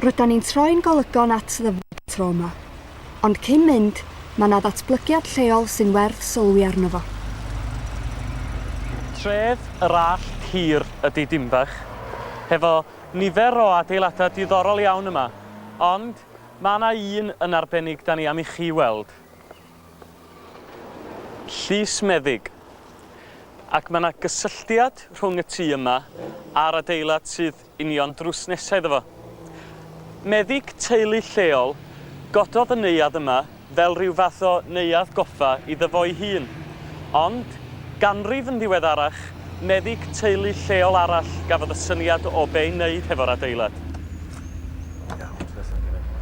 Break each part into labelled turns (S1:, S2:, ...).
S1: Rydan ni'n troi'n golygon at ddyfod y tro yma. Ond cyn mynd, mae 'na ddatblygiad lleol sy'n werth sylwi arno fo.
S2: Tref yr Allt Hir ydi Dinbych, hefo nifer o adeiladau diddorol iawn yma, ond mae 'na un yn arbennig 'da ni am i chi weld. Llys Meddyg. Ac mae 'na gysylltiad rhwng y tŷ yma a'r adeilad sydd union drws nesa iddo fo. Meddyg teulu lleol gododd y neuadd yma fel rhyw fath o neuadd goffa iddo fo'i hun. Ond, ganrif yn ddiweddarach, meddyg teulu lleol arall gafodd y syniad o be' i wneud hefo'r adeilad. Iawn, ti'n iawn?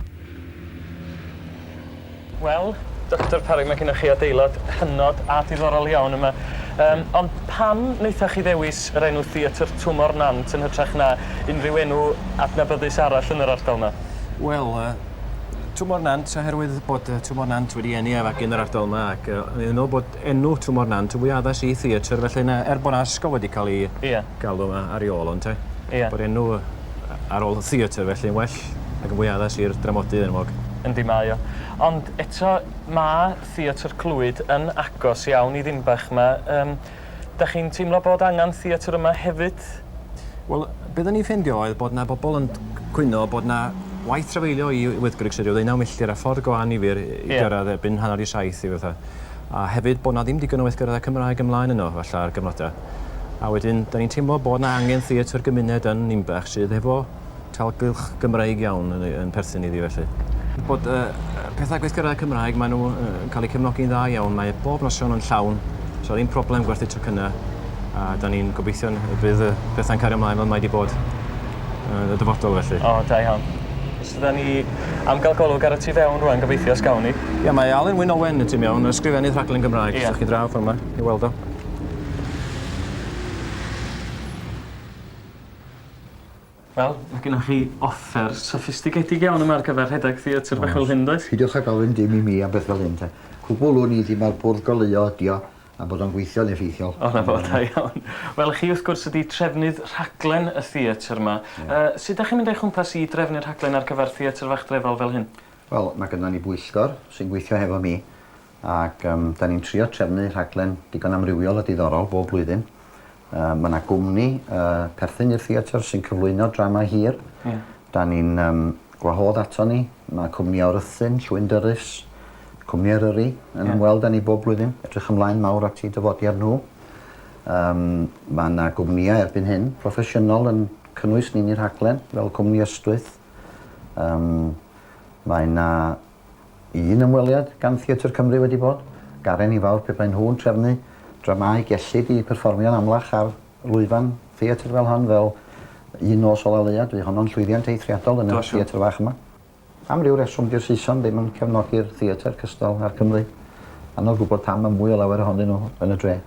S2: Wel, Doctor Parry mae gennych chi adeilad hynod a diddorol iawn yma. Yym, ond pam wnaethoch chi ddewis yr enw Theatr Twmor Nant yn hytrach na unrhyw enw adnabyddus arall yn yr ardal yma? Wel, yy,
S3: Twmor Nant oherwydd bod yy Twmor Nant wedi eni a fagu yn yr ardal yma ac yy o'n i'n meddwl bod enw Twm o'r Nant yn fwy addas i theatr felly na... er bod 'na ysgol wedi cael ei... Ie. ...galw 'ma ar ei ôl o ynte? Ie. Bod enw ar ôl theatr felly yn well ac yn fwy addas i'r dramodydd enwog. Yndi mae o.
S2: Ond eto ma' Theatr Clwyd yn agos iawn i Ddinbach 'ma yym 'dach chi'n teimlo bod angan theatr yma hefyd? Wel
S3: be' odda ni'n ffeindio oedd bod 'na bobl yn cwyno bod 'na waith trafeilio i Wyddgrug sy ryw ddeunaw milltir a ffordd go annifyr i gyrradd erbyn hanner i saith i fatha. a hefyd bod 'na ddim digon o weithgareddau Cymraeg ymlaen yno, falle ar gyfnodau. A wedyn, da ni'n teimlo bod 'na angen theatr gymuned yn Ninbach sydd hefo talgylch Gymreig iawn yn, yn perthyn iddi felly bod uh, pethau gweithgareddau Cymraeg, maen nhw uh, yn cael eu cefnogi'n dda iawn, mae bob noson yn llawn, so ddim problem gwerthu tocynnau, a da ni'n gobeithio bydd y pethau'n cario ymlaen fel mae wedi bod uh, y dyfodol felly. O, da iawn.
S2: Rydan ni am gael golwg ar y tu fewn rwan, gobeithio os gawn ni. Ia, mae Alun Wyn Owen
S3: y tu mewn, ysgrifennydd rhaglen Gymraeg, os ydych chi draw ffordd yma, i weld o.
S2: Wel, mae gennych chi offer soffistigedig iawn yma ar gyfer rhedeg theatr bach fel hyn, does? Peidiwch â gofyn dim i
S4: mi am beth fel hyn te. Cwbwl wn i ddim ar bwrdd goleuo ydi o, a bod o'n gweithio'n effeithiol. O 'na fo, da iawn.
S2: Wel chi wrth gwrs ydi trefnydd rhaglen y theatr 'ma. Yy sud 'dach chi'n mynd o'i chwmpas i drefnu rhaglen ar gyfar Theatr Fach Drefal fel hyn? Wel ma' gynnon ni bwyllgor
S4: sy'n gweithio hefo mi ac yym 'dan ni'n trio trefnu rhaglen digon amrywiol a diddorol bob blwyddyn Mae 'na gwmni perthyn i'r theatr sy'n cyflwyno drama hir. Ie. Da ni'n um, gwahodd ato ni. Mae cwmni o'r Rhythun, Llwyn Dyrys, cwmni Eryri, yn yeah. ymweld â ni bob blwyddyn. Edrych ymlaen mawr at i dyfodiad nhw. Um, mae yna gwmnïau erbyn hyn, proffesiynol yn cynnwys ni'n i'r rhaglen, fel cwmni Ystwyth. Um, mae yna Un ymweliad gan Theatr Cymru wedi bod gar i ni fawr pe baen nhw'n trefnu dramâu gellid i perfformio'n amlach ar lwyfan theatr fel hon fel Un Nos Ola Leuad, bu honno'n llwyddiant eithriadol yn y theatr fach yma. Am ryw reswm di'r Saeson ddim yn cefnogi'r theatr cystal a'r Cymry. Anodd gwybod pam mae mwy o lawer ohonyn nhw yn y dre.